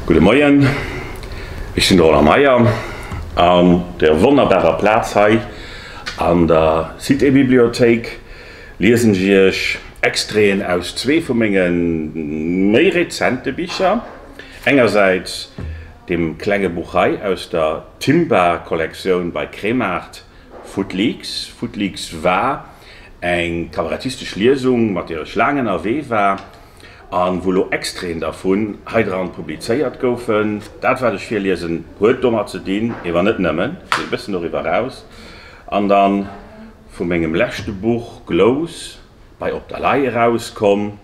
Gudde Moien, ech sinn de Roland Meyer an der wonnerbarer Plaz hei an der Citébibliothéik liesen ech Iech Extraiten aus zwee vu menge méi rezente Bicher, engersäits deem klenge Buch hei aus der Timba-Kollektioun bei Kremart, Footleaks. Footleaks war Eng kabarettistesch Liesung, mat deer ech laang ënnerwee war a wou lo Extraiten dervun hei dran publizéiert goufen. Dat, wat ech virliesen, huet domat ze dinn, ee wa net nëmmen esou e bëssen doriwwer eraus, an da vu mengem leschte Buch Glous bei Op der Lay erauskomm.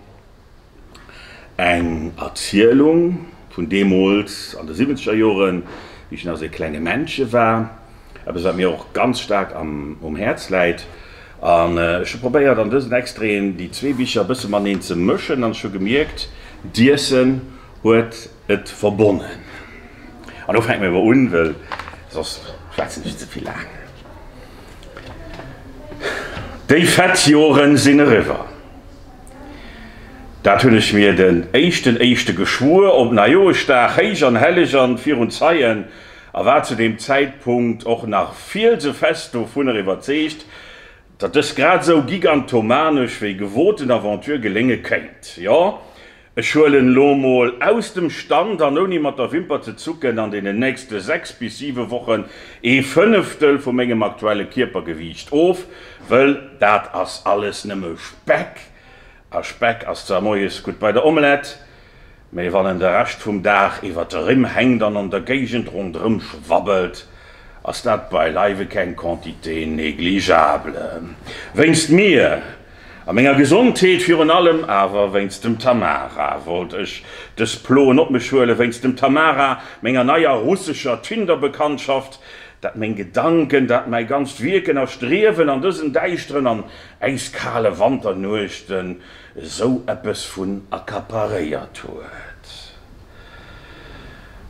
Eng Erzielung vun deemools an de siwwenzeger Joren, wéi ech nach esou ee klenge Männche war. Eppes, wat mir och ganz staark um Häerz läit. An ech hu probéiert, an dësen Extraiten déi zwee Bicher e bësse mateneen ze mëschen. An ech hu gemierkt, d'Iessen huet et verbonnen. An elo fänke mir awer un, well soss schwätzen ech ze vill laang. Déi fett Joren sinn eriwwer. Dat hunn ech mir den éischten éischte geschwuer, op Neijoeschdag, héich an helleg an virun Zeien, a war zu deem Zäitpunkt och nach fielsefest dovunner iwwerzeegt, datt dës grad esou gigantomanesch wéi gewoten Aventure gelénge kéint. Jo, Ech huelen elo mol aus dem Stand an ouni mat der Wimper ze zucken an deenen nächste 6 bis 7 Wochen ee Fënneftel vu mengem aktuelle Kierpergewiicht of, wëll dat ass alles nëmme Speck, a Speck ass zwar moies gutt bei der Omelett, mä wann en de Rescht vum Dag iwwer de Rimm hänkt an an der Géigend ronderëm schwabbelt, ass dat beileiwe keng Quantité négligeable. Wéinst mir! A menger Gesondheet virun allem, awer wéinst dem Tamara wollt ech dës Ploen op mech huelen, wéinst dem Tamara, menger neier russescher Tinder-Bekanntschaft, dat meng Gedanken, dat mäi ganzt Wierken a Striewen an dësen däischteren an äiskale Wanternuechten esou eppes vun accaparéiert huet.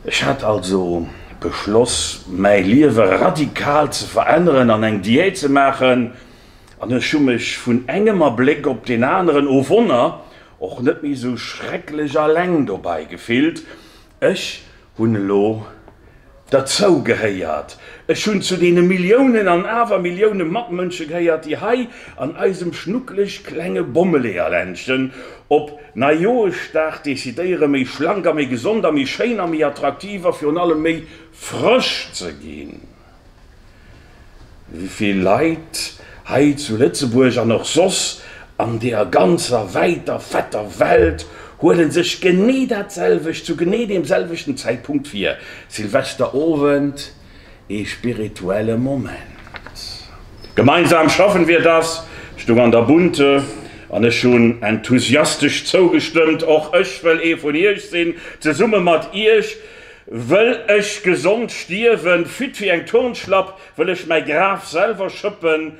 Ech hat also beschloss, mäi Liewe radikal ze veränneren an eng Diät ze maachen, an ech hu mech vun engem Abléck op deen aneren o Wonner och net méi esou schrecklech alleng dobei gefillt, ech hunn elo derzou gehéiert, ech hunn zu deene Milliounen an awer Millioune Matmënsche gehéiert, déi hei an eisem schnuckeleg klenge Bommeleeërländchen op Neijoeschdag decidéiere méi schlank a méi gesond a méi schéin a méi attraktiv a virun allem méi frësch ze ginn. Wéivill Leit hei zu Lëtzebuerg an och soss an deer ganzer wäiter fetter Welt huelen sech genee dat selwecht zu genee deem selwechten Zäitpunkt vir, Silvesterowend, ee spirituelle Moment. Gemeinsam schaffen wir das! stung an der Bunte an ech hunn enthusiastesch zougestëmmt. Och ech wëll ee vun iech sinn, zesumme mat iech. Wëll ech gesond stierwen, fit wéi eng Turnschlapp, wëll ech mäi Graf selwer schëppen,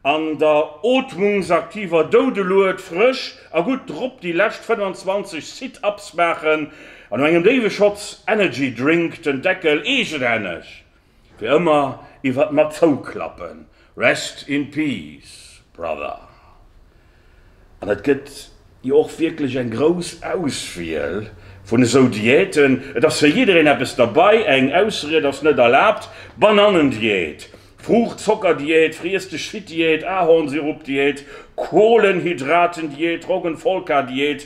an der ootmungsaktiver Doudelued frësch a gutt drop déi lescht 25 Sit-Ups maachen, an no engem déiwe Schotz Energy Drink den Deckel eegenhänneg Fir ëmmer iwwert mer zouklappen. Rest in peace brother. An et gëtt jo och wierklech eng grouss Auswiel vun esou Diäten. Et ass fir jiddereen eppes derbei, eng Ausried ass net erlaabt, Banannendiät, Fruucht-Zocker-Diät, Friess-dech-fit-Diät, Ahornsirup-Diät, Kohlenhydraten-Diät, Roggenvolca-Diät,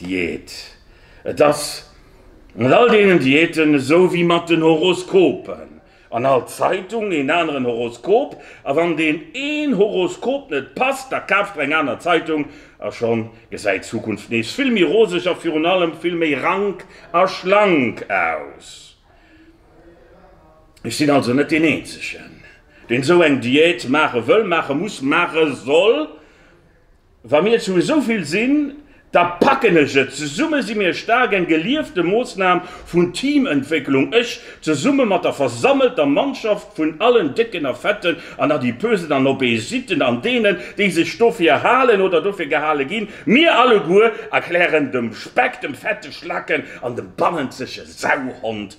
Diät. Et ass mat all deenen Diäten esou wéi mat den Horoskopen, an all Zeitung een aneren Horoskop, a wann deen een Horoskop net passt, da kaaft der eng aner Zeitung a schonn gesäit d'Zukunft nees vill méi roseg a virun allem vill méi rank a schlank aus. Ech sinn also net deen eenzegen, deen esou eng Diät maache wëll, maache muss, maache soll. Wa mir zu esou vill sinn, da packen ech et! Zesumme si mir staark, eng geliefte Moossnam vun Teamëntwécklung, ech zesumme mat der versammelter Mannschaft vun allen Décken a Fetten an Adipösen an Obésiten an deenen, déi sech dofir halen oder dofir gehale ginn, mir alleguer erklären dem Speck, dem fette Schlacken an dem bannenzege Sauhond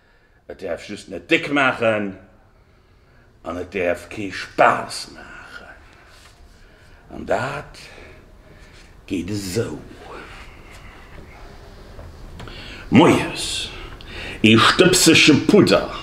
Et däerf just net déck maachen an et däerf kee Spaass maachen. An dat geet esou. Moies ee Stëbsselche Pudder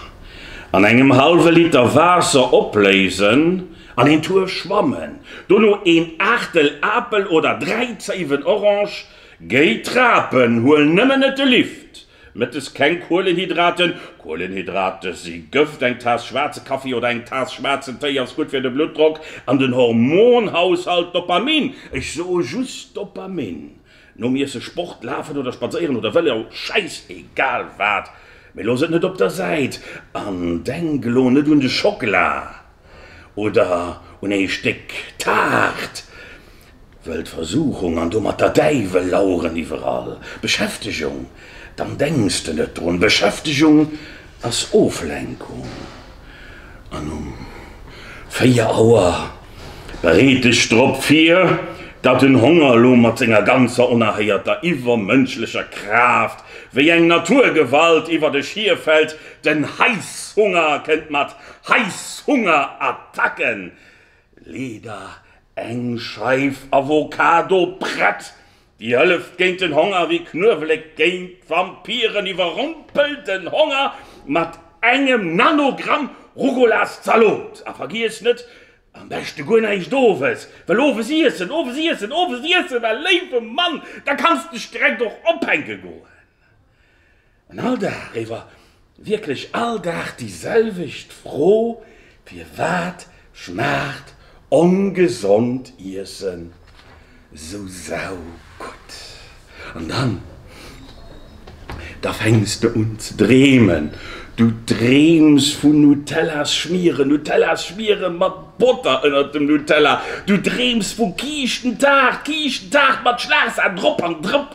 an engem hallwe Liter Waasser opléisen an een Tuer schwammen. Dono een Aachtel Apel oder 3 Zéiwen Orange géi trapen. Huel nëmmen net de Lift. Mëttes keng Kuelenhydraten, Kuelenhydrate si Gëft, eng Taass schwaarze Kaffi oder eng Taass schwaarzen Téi ass gutt fir de Bluttdrock an den Hormonhaushalt Dopamin, ech soe just Dopamin, nom Iesse Sport, Lafen oder Spadséieren oder Vëlo, schäiss egal wat, mee looss et net op der Säit an denk elo net un de Schockela. oder un ee Stéck Taart, wëll d'Versuchung an domat der Däiwel laueren iwwerall. Beschäftegung, dann denks de net drun. Beschäftegung ass Oflenkung. An um 4 Auer, bereet dech drop vir, datt den Honger elo mat senger ganzer onerhéierter iwwermënschlecher Kraaft wéi eng Naturgewalt iwwert dech hierfält, den Heißhunger kënnt mat. Heißhungerattacken, leeder eng Scheif Avocado prett, déi hëlleft géint den Honger, wéi Knuewelek géint Vampiren, iwwerrompelt den Honger mat engem Nanogramm Rugolas Zalot. A vergiesst net, am beschte guer näischt owes, well owes iessen, owes iessen, owes iessen, a léiwe Mann, da kanns de d'Streck och ophänke goen. An all Dag eriwwer, wierklech all Dag déi selwecht Fro, Firwat schmaacht ongesond Iessen esou saugutt? An dann, da fänks de un ze dreemen. Du dreems vun Nutellas schmieren, Nutellas schmieren mat Botter ënnert dem Nutella. Du dreems vu Kiischentaart, Kiischentaart mat Schlagsan drop an drop.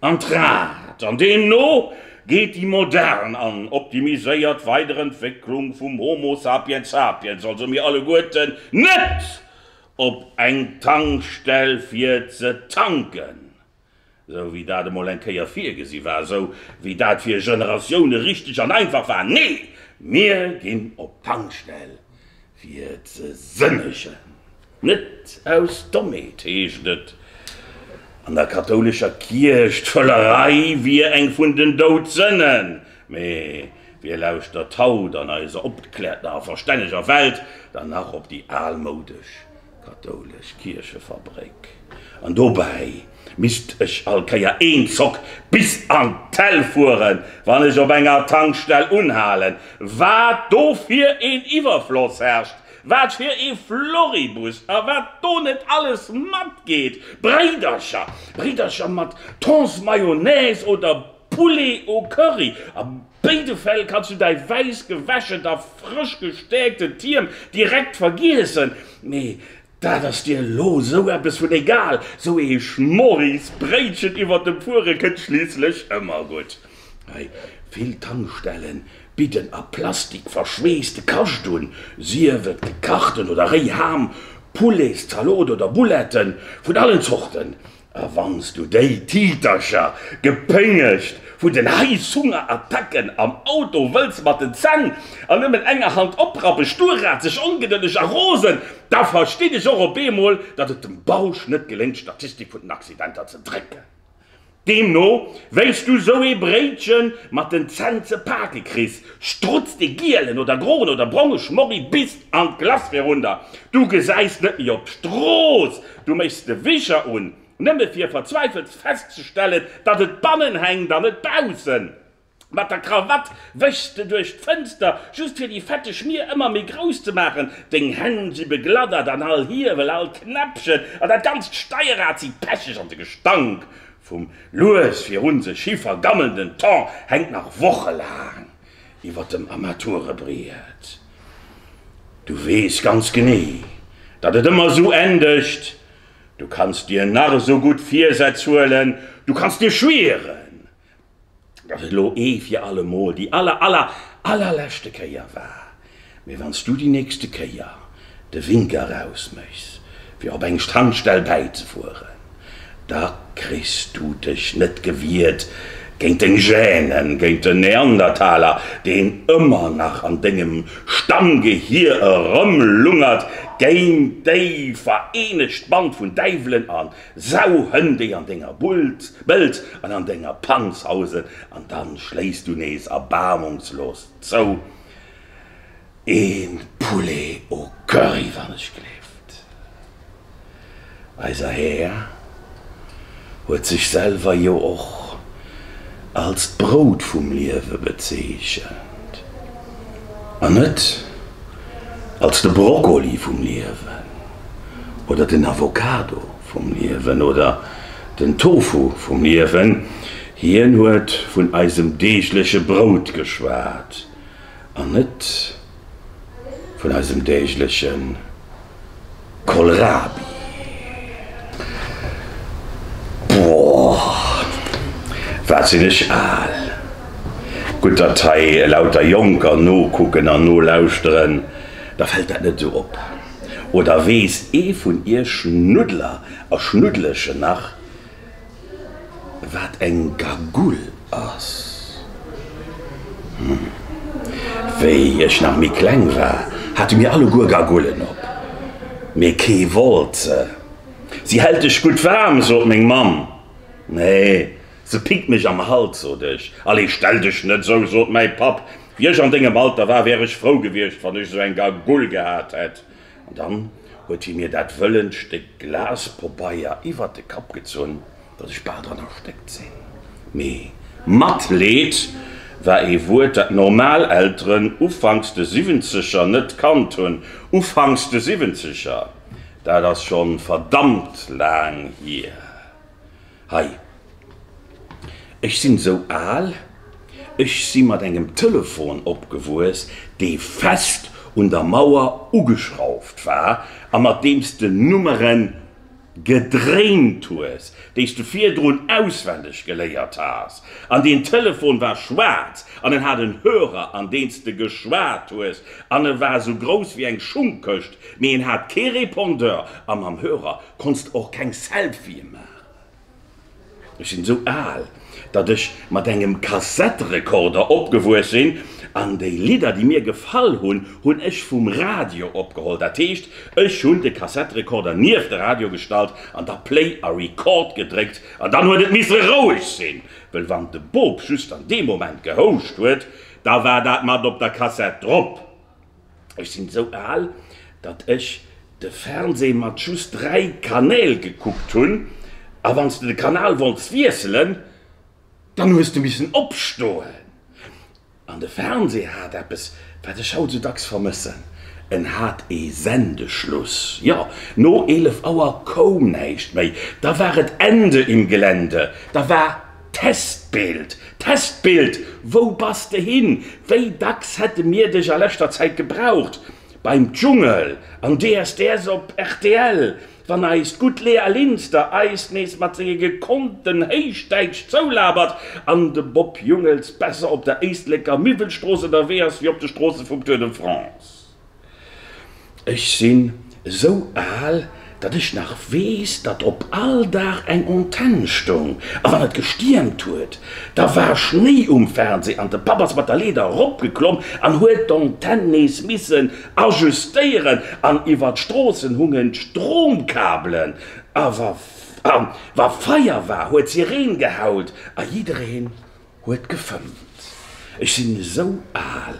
An d'Rad. An deemno geet déi modern an optimiséiert Weiderentwécklung vum Homo sapiens sapiens, also mir alleguerten, net op eng Tankstell fir ze tanken, esou wéi dat emol eng Kéier virgesi war, esou wéi dat fir Generatioune richteg an einfach war. Nee, mir ginn op d'Tankstell fir ze sënnegen. Net aus Dommheet heescht et an der kathoulescher Kierch, d'Völlerei wier eng vun den Doudsënnen. Mee wie lauschtert haut an eiser opgekläerter a verstänneger Welt dann nach op déi almoudesch kathoulesch Kierchefabréck? An dobäi misst ech all Kéier een Zock bis an d'Häll fueren, wann ech op enger Tankstell unhalen. Wat do fir een Iwwerfloss herrscht, Wat fir ee Floribus a wat do net alles matgeet! Bréidercher, Bréidercher mat Thons Mayonnaise oder Poulet au Curry, a béide Fäll kanns du däi wäiss gewäschent a frësch gestäerkten Tierm direkt vergiessen. Mee dat ass dir elo esou eppes vun egal, sou ee Schmorris Bréitchen iwwer dem Fuere kënnt schliisslech ëmmer gutt. Hei vill Tankstellen bidden a Plastik verschweesste Kascht un, sief et gekachten oder réi Ham, Poulets, Zalot oder Bouletten vun allen Zorten. A wann s du déi Titercher, gepéngegt vun den Heißhunger-Attacken am Auto, wëlls mat den Zänn an nëmmen enger Hand oprappen, sturrazeg, ongedëlleg a rosen, da verstinn ech och op eemol, datt et dem Bausch net geléngt, d'Statistik vun den Accidenter ze drécken. Deemno, wéis du sou ee Bréitchen mat den Zänn ze pake kriss, strutzt de gielen oder groen oder bronge Schmorri bis an d'Glace virunter. Du gesäis net méi op d'Strooss. Du méchs de Wischer un, nëmme fir verzweifelst festzestellen, datt et bannen hänkt an net baussen. Mat der Krawatt wéchs de duerch d'Fënster, just fir déi fette Schmier ëmmer méi grouss ze maachen. Deng Hänn si begladdert an all Hiewel, all Knäppchen an dat ganzt Steierrad si pecheg an de Gestank vum lues virun sech hi vergammelnden Thon hänkt nach wochelaang iwwer dem Armaturebriet. Du weess ganz genee, datt et ëmmer esou endegt. Du kanns dir nach esou gutt Virsätz huelen, du kanns dir schwieren, datt et elo ee fir allemol déi aller, aller, allerleschte Kéier war. Mee wann s du déi nächste Kéier de Wink eraus méchs, fir op eng Strandstell bäizefueren, da kriss du dech net gewiert géint deng Gêne, géint den Neandertaler, deen ëmmer nach an dengem Stammgehir erëmlungert, géint déi vereenegt Band vun Däiwelen an Sauhënn déi an denger Bult, Bëld an an denger Panz hausen, an dann schléiss du nees erbaarmungslos zou, een Poulet au curry wann ech gleeft. Eiser Här huet sech selwer jo och als d'Brout vum Liewe bezeechent, an net als de Broccoli vum Liewen. oder den Avocado vum Liewen oder den Tofu vum Liewen, hien huet vun eisem deegleche Brout geschwat an net vun eisem deegleche Kohlrabi. Boah, wat sinn ech al! Gutt, datt hei elauter Jonker nokucken an nolauschteren, da fält dat net esou op. Oder weess ee vun iech Schnuddler a Schnuddlechen nach, wat eng Gagoul ass? Hm. Wéi ech nach méi kleng war, hate mir alleguer Gagoullen op, mee kee wollt se. Si hält dech gutt waarm, sot meng Mamm. Nee, se pickt mech am Hals, sot ech. Allez, stell dech net esou, sot mäi Papp. Wie ech an dengem Alter war, wär ech frou gewiescht, wann ech esou eng Gagoule gehat hätt. An dann huet hie mir dat wëllent Stéck Glaspobeier iwwert de Kapp gezunn, datt ech bal dran erstéckt sinn. Mee Matleed war ee Wuert, dat normal Elteren ufanks de Siwwenzeger net kannt hunn. Ufanks de Siwwenzeger, dat ass schonn verdammt laang hier. Hei, ech sinn esou al, ech si mat engem Telefon opgewuess, dee fest un der Mauer ugeschrauft war a mat deem s de Nummeren gedréint hues, déi s de virdrun auswenneg geléiert has. An deen Telefon war schwaarz an en hat en Hörer, an deen s de geschwat hues, an e war esou grouss wéi eng Schungkëscht, mee en hat kee Répondeur a mam Hörer konns de och keng Selfië maachen. Ech sinn esou al, datt ech mat engem Kassetterekorder opgewuess sinn, an déi Lidder, déi mir gefall hunn, hunn ech vum Radio opgeholl. Dat heescht, ech hunn de Kassetterekorder nieft de Radio gestallt an da Play a Record gedréckt. An dann huet et misse roueg sinn, wëll wann de Bop just an deem Moment gehouscht huet, da war dat mat op der Kassett drop. Ech sinn esou al, datt ech de Fernseh mat just 3 Kanäl gekuckt hunn, a wanns de de Kanal wollts wiesselen, dann hues de missen opstoen. An de Fernseh hat eppes, wat ech haut esou dacks vermëssen, en hat ee Sendeschluss. Jo, no 11 Auer koum näischt méi, da war et Ende im Gelände, da war Testbild, Testbild, wou bass de hin? Wéi dacks hätte mir dech a leschter Zäit gebraucht, beim Dschungel, an DSDS op rtl, wann eist gutt Lea Linster eis nees mat senge gekonnten Héichdäitsch zoulabert an de Bob Jungels besser op der Éisleker Miwwelstrooss ënnerwee ass wéi op de Stroosse vum Tour de France. Ech sinn esou al, datt ech nach weess, datt op all Dag eng Antenn stoung, a wann et gestiermt huet, da war Schnéi um Fernseh an de Papp ass mat der Leeder eropgeklomm an huet d'Antenn nees missen ajustéieren an iwwer d'Stroossen hungen d'Stromkabelen a wa Feier war, huet d'Sireen geheult a jiddereen Huet gefëmmt. Ech sinn esou al,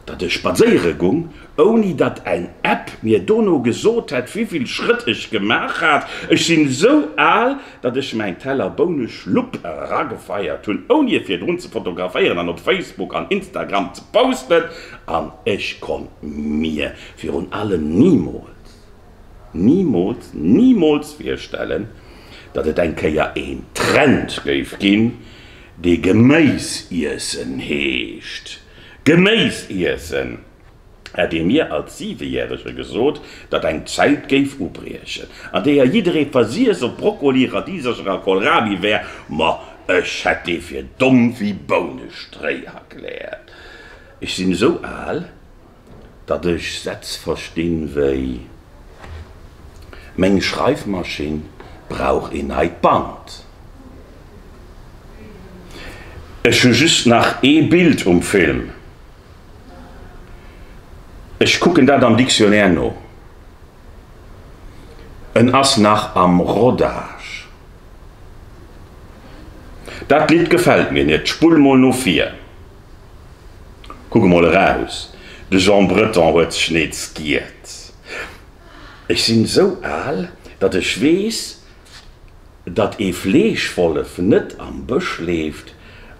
datt ech spadséiere gung, ouni datt eng App mir dono gesot hätt, wivill Schrëtt ech gemaach hat. Ech sinn esou al, datt ech mäin Teller Bouneschlupp eragefeiert hunn, ouni e virdrun ze fotograféieren an op Facebook an Instagram ze posten. An ech konnt mir virun allem nimools Nimools, nimools virstellen, datt et eng Kéier een Trend géif ginn, dee Geméis iessen heescht. Geméis iessen! Hätt ee mir als Siwejärege gesot, datt eng Zäit géif ubriechen, an deeër jidderee versiess op Brokkoli, Radisercher a Kohlrabi wär, ma ech hätt dee fir domm wéi Bounestréi erkläert. Ech sinn esou al. datt ech Sätz verstinn wéi, Meng Schreifmaschinn brauch een neit Band. Ech hu just nach ee Bild um Film. Ech kucken dat am Dictionnaire no. En ass nach am Rodage. Dat Lidd gefält mir net. Spull mol no vir. Kuck emol eraus, de Jean Breton huet sech nees giert. Ech sinn esou al, datt ech weess, datt ee Fleeschwollef net am Bësch leeft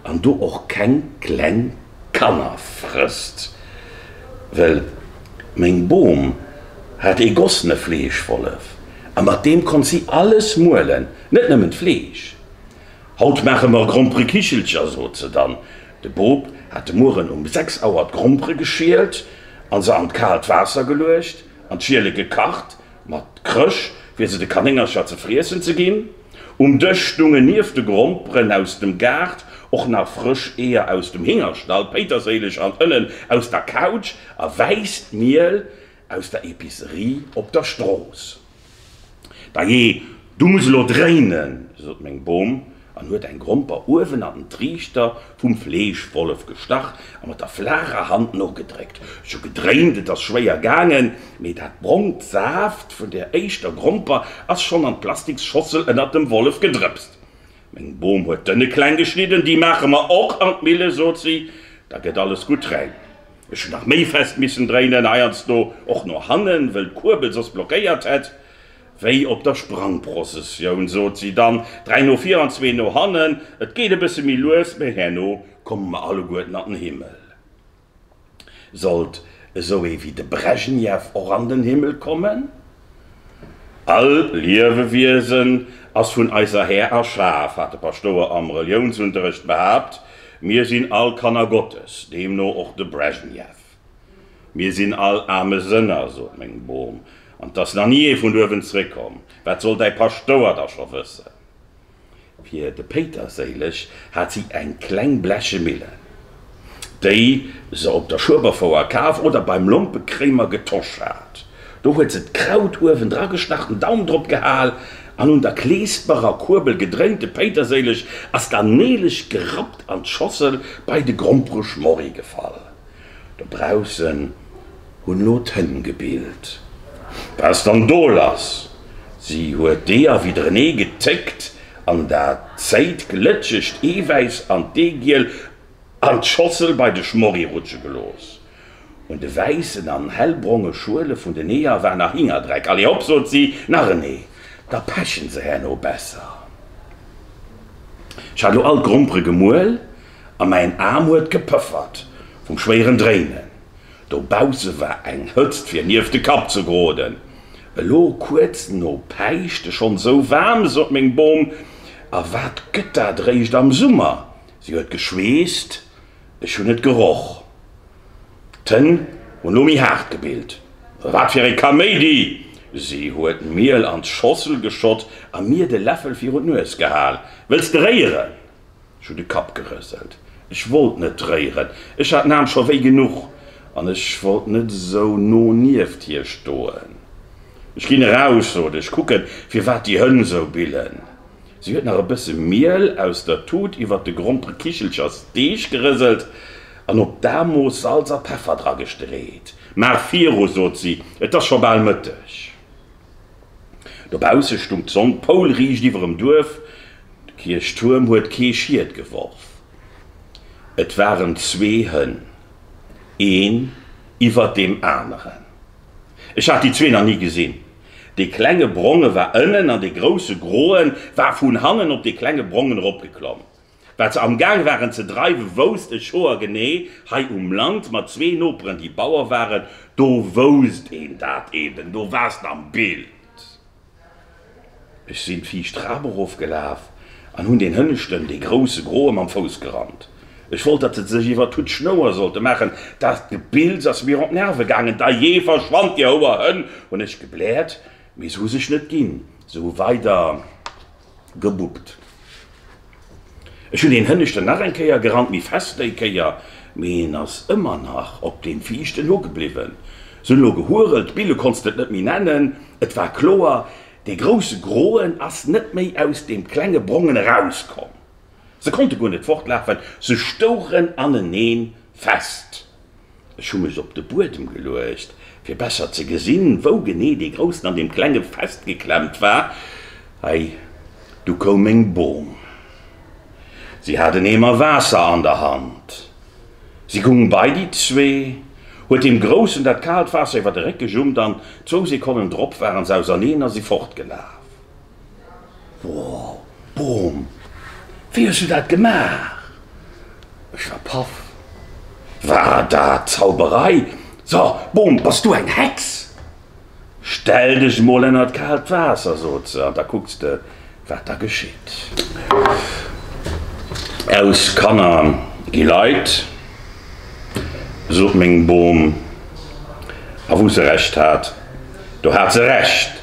an do och keng kleng Kanner frësst. Well meng Bom hat ee gossene Fleeschwollef a mat deem konnt si alles muelen, net nëmmen d'Fleesch. Haut maache mer Gromperekichelcher, sot se dann. De Boob hat de Mueren um sechs Auer d'Grompere geschielt a se an d'kaalt Waasser geluecht an d'Schiele gekacht, mat Krësch, fir se de Kanéngercher ze friessen ze ginn. Um Dësch stounge nieft de Gromperen aus dem Gaart och nach frësch Eeër aus dem Hingerstall, Péiterséileg an Ënnen aus der Kautsch a wäisst Miel Aus der Epicerie op der Strooss. Dajee, du muss elo dréinen! sot meng Bom an huet eng Gromper uewen an den Triichter vum Fleeschwollef gestach a mat der flaacher Hand nogedréckt. Ech hu gedréint, et ass schwéier gaangen, mee dat brongt Saaft vun der éischter Gromper ass schonn an d'plastiks Schossel ënnert dem Wollef gedrëpst. Meng Bom huet d'Ënne kleng geschnidden, déi maache mer och an d'Mille, sot si, da gëtt alles gutt rein. Ech hun nach méi fest missen dréinen, heiansdo och no hannen, wëll d'Kuerbel soss blockéiert hätt. Wéi op der Sprangprozessioun sot si dann, dräi no vir an zwee no hannen, et geet e bësse méi lues, mä herno komme mer alleguerten an den Himmel. Sollt esou ee wéi de Brezhnev och an den Himmel kommen? All Liewewiesen ass vun eiser Här erschaf, hat de Paschtouer am Reliounsunterrecht behaapt. Mir sinn all Kanner Gottes, deemno och de Brezhnev. Mir sinn all aarme Sënner, sot meng Mom, an 't ass nach ni ee vun uewen zréckkomm. Wat soll däi Paschtouer da scho wëssen? Fir de Péiterséileg hat si eng kleng bleche Millen, déi se op der Schueberfouer kaf oder beim Lompekréimer getosch hat. Do huet se d'Kraut uewen dragestach, den Daum drop gehal an un der kleesperer Kuerbel gedréint. De Péiterséileg ass dann neeleg gerappt an d'Schossel bei de Grompereschmorri gefall. Dobaussen hunn lo d'Hënn gebillt. Wars dann do lass? Si huet d'Ee erwidderenee gezéckt an der Zéit glëtschegt Eewäiss an d'Eegiel an d'Schossel bei de Schmorri rutsche gelooss. Un de wäissen an hellbronge Schuele vun den Eeër war nach Hingerdreck. Allez hop, sot si, nach en Ee, da peche se herno besser. Ech hat lo all d'Grompere gemuel. A mäin Aarm huet gepëffert vum schwéieren Dréinen. Dobausse war eng Hëtzt fir nieft de Kapp ze geroden. Elo kuerz no Päischt, schonn esou waarm, sot meng Bom. A wat gëtt dat eréischt am Summer! Si huet geschweesst, ech hunn et geroch. D'Hënn hunn lo méi haart gebillt. Wat fir ee Kaméidi! Si huet d'Miel an d'Schossel geschott a mir de Läffel virun d'Nues gehal. Wëlls de réieren? Ech hunn de Kapp gerëselt. Ech wollt net réieren. Ech hat den Aarm scho wéi genuch an ech wollt net esou no nieft hir stoen. Ech ginn eraus, sot ech, kucke firwat déi Hënn esou billen. Si huet nach e bësse Miel aus der Tut iwwert de grompere Kichelchers Deeg gerëselt an op d'Aarmooss Salz a Peffer dragestreet. Maach viru, sot si, et ass scho bal Mëtteg. Dobausse stung d'Sonn poulriicht iwwerem Duerf, de Kierchtuerm huet kee Schiet geworf. Et waren zwee Hënn, een iwwer deem aneren. Ech hat déi zwee nach ni gesinn. Dee klenge Bronge war ënnen an dee grousse Groe war vun hannen op dee klenge Brongen eropgeklomm. Wat se am Gaang waren ze dreiwe wousst e Schoer genee. Hei um Land, mat zwee Noperen, déi Bauer waren, do wousst een dat eben. Do wars de am Bild. Ech sinn d'viischt Trap erof gelaf an hunn deen hënneschten, dee grousse groe mam Fouss gerannt. Ech wollt, datt se sech iwwer d'Hutt Schnouer sollte maachen. Dat Gebills ass mir op d'Nerve gaangen. Dajee, verschwand, dir Houer Hënn! hunn ech gebläert. Mee se hu sech net ginn. Se hu weider. Gebuppt. Ech hun deen Hënneschten nach eng Kéier gerannt, mi fest déi Kéier, mee hien ass ëmmer nach op deem Viischten lo gebliwwen. Se hun lo gehuerelt, Bille konns de et net méi nennen, et war kloer, dee grousse Groen ass net méi aus deem klenge Brongen eraus komm. Se konnte guer net fortlafen, se stouchen aneneen fest. Ech hu mech op de Buedem geluecht, fir besser ze gesinn, wou genee dee Groussen an deem Klenge festgeklemmt war. Hei, du koum meng Bom. Si hat en Eemer Waasser an der Hand. Si gung bei déi zwee, huet deem Groussen dat kaalt Waasser iwwer de Réck gejummt an zwou Sekonnen drop waren s'auserneen a si fortgelaf. Wow! Boom! Wéi hues du dat gemaach? Ech war paff. War dat Zauberei? So, Boom, bass du eng Hex? Stell dech mol ënner d'kaalt Waasser, sot se, an da kucks de, wat da geschitt. Aus Kanner gi Leit, sot meng Boom. A wou se Recht hat, do hat se Recht.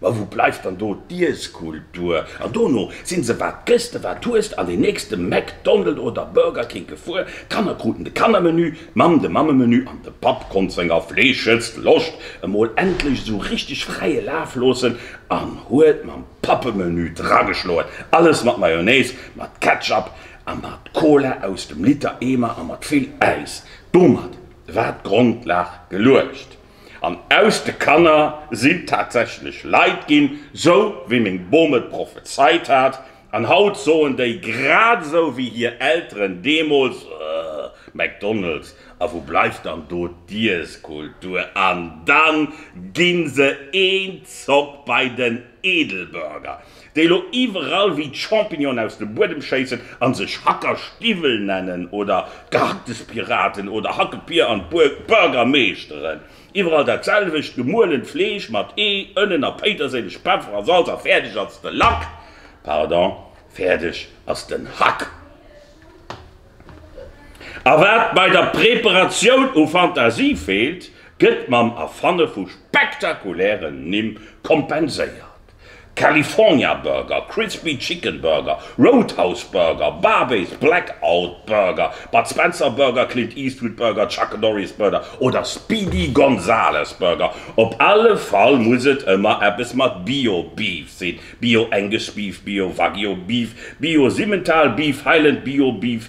Ma wou bleift dann do d'Iesskultur? An dono sinn se wat gëss de wat hues an deen nächste McDonald oder Burger King gefuer. D'Kanner kruten de Kannermenü, d'Mamm de Mammemenü an de Papp konnt senger fleeschegst Loscht emol endlech esou richteg fräie Laf loossen an huet mam Pappemenü drageschloen. Alles mat Mayonnaise, mat Ketchup a mat Cola aus dem Liter Eemer a mat vill Äis. Domat war d'Grondlag geluecht. An aus de Kanner sinn tatsächlech Leit ginn, sou wéi meng Bom et prophezeit hat. An haut soen déi, grad esou wéi hir Elteren deemools, Ëh, McDonald's, a wou bleift dann do d'Iesskultur? An dann ginn se een Zock bei den Edelburger. déi elo iwwerall wéi d'Champignonen aus dem Buedem schéissen a sech Hackerstiwwel nennen oder d'Gehacktes-Piraten oder Hackepier an d'Burgermeeschteren, iwwerall dat selwecht, gemuelent Fleesch mat Ee, Ënnen a Péiterséileg, Peffer a Salz a fäerdeg ass de Lack, pardon, fäerdeg ass den Hack. A wat bei der Preparatioun u Fantasie feelt, gëtt mam Erfanne vu spektakulären Nimm kompenséiert. California Burger, Crispy Chicken Burger, Roadhouse Burger, Barbe's Blackout Burger, Bud Spencer Burger, Clint Eastwood Burger, Chuck Norris Burger oder Speedy Gonzales Burger, op alle Fall muss et ëmmer eppes mat Bio Beef sinn, Bio Angus Beef, Bio Wagyu Beef, Bio Simmental Beef, Highland Bio Beef,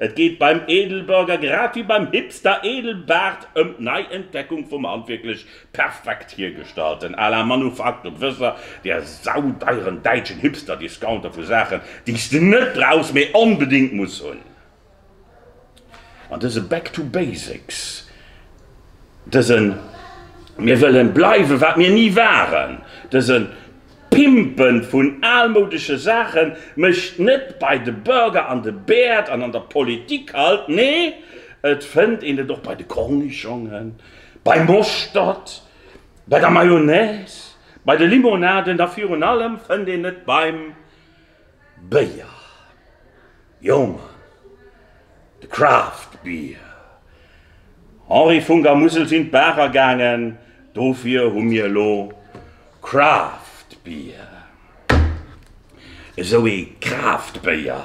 Et geet beim Edelburger, grad wéi beim Hipster Edelbart, ëm d'Neientdeckung vum handwierklech perfekt hiergestallten à la manufacture Gewësser, där saudeieren däitschen Hipster-Discounter vu Saachen, déi s de net brauchs, mee onbedéngt muss hunn. An dëse Back to Basics, dëse Mir wëlle bleiwe wat mir ni waren, dëse D'Pimpen vun almoudesche Saachen mécht net bei de Burger an de Bäerd an an der Politik halt, nee, et fënnt een et och bei de Cornichongen, beim Moschtert, bei der Mayonnaise, bei de Limonaden a virun allem fënnt een et beim. Béier, jo Mann, de Craft Beer. Henri Vun der Musel sinn d'Barer gaangen, dofir hu mir elo Craft Beer. Esou ee Craft Béier.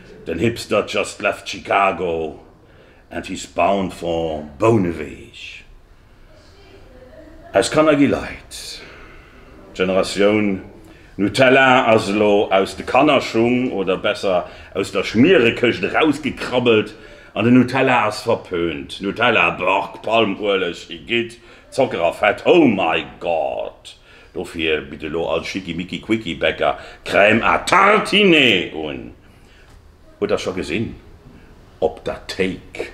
Den Hipster just left Chicago and he's bound for Bouneweg. Aus Kanner gi Leit. D'Generatioun Nutella ass elo aus de Kannerschung, oder besser aus der Schmierekëscht erausgekrabbelt an den Nutella ass verpönt. Nutella, Beuh, Palmueleg, Igitt, Zocker a Fett, oh my God! Dofir bitt elo all Schickimicki Quicki Bäcker Crème à tartiner un. Hutt der scho gesinn, op der Théik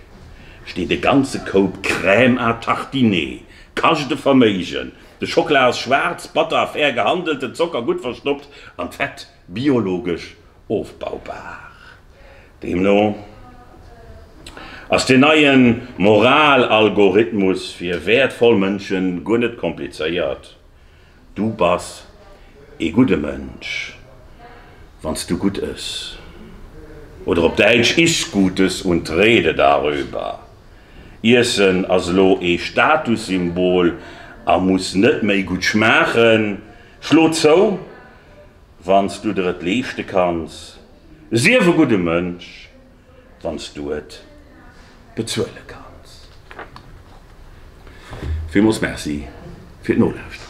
steet e ganze Koup Crème à tartiner. Kascht e Verméigen. De Schockla ass schwaarz, batter a fair gehandelt, den Zocker gutt verstoppt an d'Fett biologesch ofbaubar. Deemno ass deen neie Moral-Algorithmus fir wäertvoll Mënsche guer net komplizéiert, Du bass ee gudde Mënsch, wann s du gutt ëss. Oder op Däitsch, Iss Gutes und rede darüber, Iessen ass elo ee Statussymbol a muss net méi gutt schmaachen. Schlo zou! Wann s du der et leeschte kanns, sief e gudde Mënsch, wann s du et bezuele kanns. Villmools Merci fir d'Nolauschteren.